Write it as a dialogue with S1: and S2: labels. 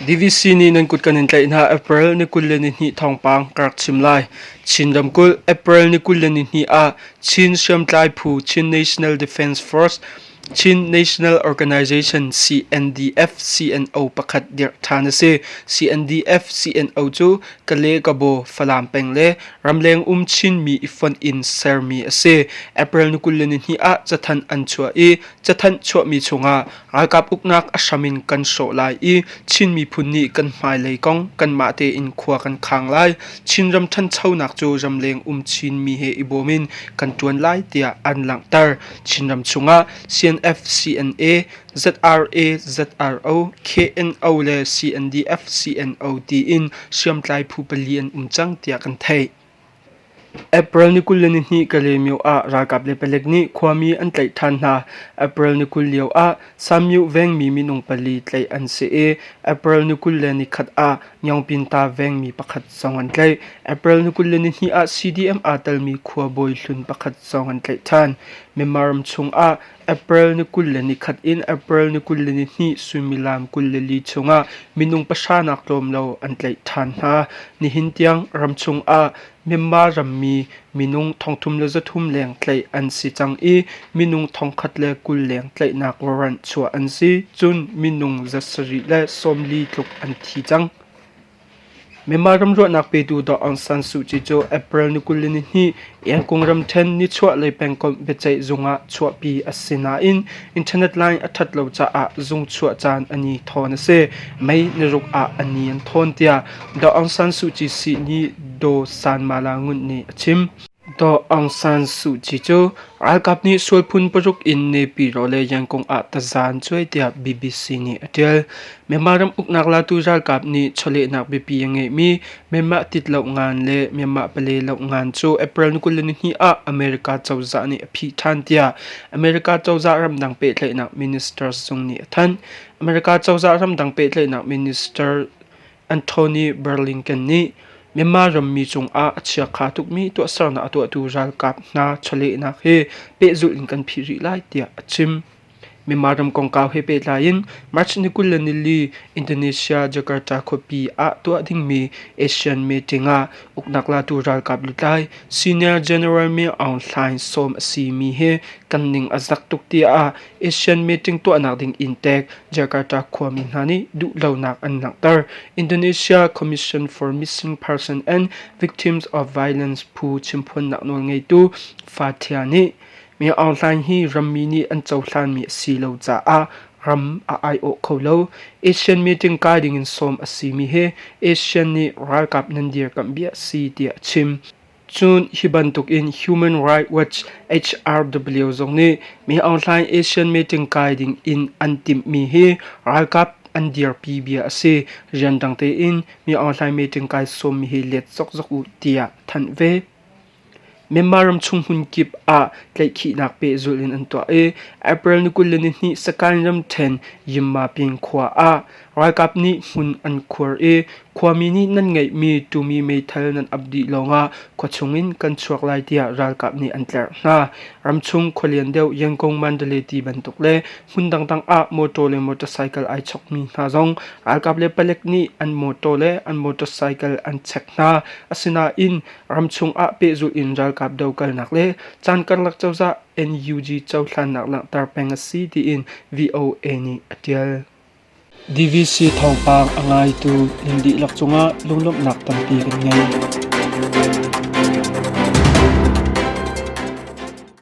S1: DVC nih nan kut kan in tlaih hna April ni kul le ni hnih thawngpang ka rak chim lai. Chin ramkulh April ni kul le ni hnih ah Chin hriamtlai phu Chin National Defence Force Chin National Organization CNDF-CNO pakhat dirh ṭhan a si. CNDF-CNO cu Kale, Kabo, Falam peng le ramleng um Chinmi i fonh in sermi a si. April ni kul le ni hnih ah cathanh an chuah i cathanh chuahmi chungah ralkap uknak a hram in kan hrawh lai i Chin miphun nih kan hmailei kong kanmah tein khua kan khang lai. Chinram ṭhanchonak cu ramleng um Chinmi he i bawm in kan ṭuan lai tiah an langhter. Chinram chungah CNF-CNA, ZRA, ZRO, KNO le CNDF-CNO tiin hriamtlai phu pali an um cang tiah kan theih. April ni kul le ni hnih ka le mio ah ralkap le palek nih khuami an tlaih ṭhan hna. April ni kul lio ah Samyu Vengmi minung pali tlaih an si i April ni kul le ni khat ah Nyawngpinta vengmi pakhat zong an tlaih. April ni kul le nihnih ah CDM aa telmi khuabawi hlun pakhat zong an tlaih ṭhan. Myanmar ram chungah April ni kul le ni khat in April ni kul le nihnih suimilam kul le li chungah minung pahra nak tlawm lo an tlaih ṭhan hna. Nihin tiang ram chungah Myanmar rammi minung thongthum le zathum leng tlaih an si cang i minung thongkhat le kul leng tlaihnak warrant chuah an si. Cun minung za sarih le sawmli tluk an thi cang. Myanmar ramruahnak petu Daw Aung San Suu Kyi cu April ni kul le ni hnih Yangon ramṭhen nichuahlei pengkomh biaceih zung ah chuahpi a si nain internet line a ṭhat lo caah zung chuah caan a ni thawn a si. Mei ni ruk ah a ni an thawn tiah Dawh Aung San Suu Kyi sih nih Daw Sanmala Ngunt nih a chim. Daw Aung San Suu Kyi cu ralkap nih sual phun paruk in nepi ro le yangkung ah tazan cuai tiah BBC nih a ṭial. Myanmar ram uknak latu ralkap nih chawlehnak biapi a ngeihmi Myanmar tit lo ngan le Myanmar pale lo ngan cu April ni kul le ni hnih ah America cozah nih a phih ṭhan tiah America cozah ramdang pehtlaihnak minister zung nih a thanh. America cozah ramdang pehtlaihnak minister Anthony Blinken nih Myanmar rammi cungah a chiakha tukmi tuahsernak a tuahtu ralkap hna chawlehnak he pehzulh in kan phih rih lai tiah a chim. Myanmar ram kongkau he pehtlai in March ni kul le nili Indonesia Jakarta khuapi ah tuah dingmi ASEAN meeting ah uknak latu ralkap lutlai Senior General Min Aung Hlaing sawm a simi he kan ning a zak tuk tiah Asian meeting tuahnak ding in tek Jakarta khuami hna nih duhlonak an langhter. Indonesia Commission for Missing Person and Victims of Violence phu chimphuannak nawl ngeitu Fathia nih mi aung hlaing hi rammi nih an cohlanmi a si lo caah ram a aiawh kho lo. Asian meeting kai ding in sawm a simi he Asian nih ralkap nan dirkamh bia a si tiah a chim. Cun hi bantuk in Human Rights Watch HRW zong nih Mi Aung Hlaing Asian meeting kai ding in an timhmi hi ralkap an dirpi bia a si. Rian dang tein Mi Aung Hlaing meeting kai sawmmi hi let zokzok u tiah thanh ve. Myanmar ramchung hmunkip ah tlaihkhihnak pehzulh in an tuah i April ni kul le ni hnih sakhan ramṭhen Yinma pyin khua ah Ralkap nih hmun an khuar i khuami nih nan ngeihmi tumi meithal nan ap dih lawngah khua chungin kan chuak lai tiah ralkap nih an tlerh hna. Ramchung khualian deuh Yangon Mandaleti bantuk le hmun dangdang ah motor le motorcycle ai chokmi hna zong ralkap le palek nih an motor le an motorcycle an chek hna. Asinain ramchung ah pehzulh in ralkap dokalnak le caan karlak cozah NUG cohlannak langhter peng a si tiin VOA nih a tial. DVC thawngpang a ngaitu nan dihlak cungah lunglawmhnak tampi kan ngei.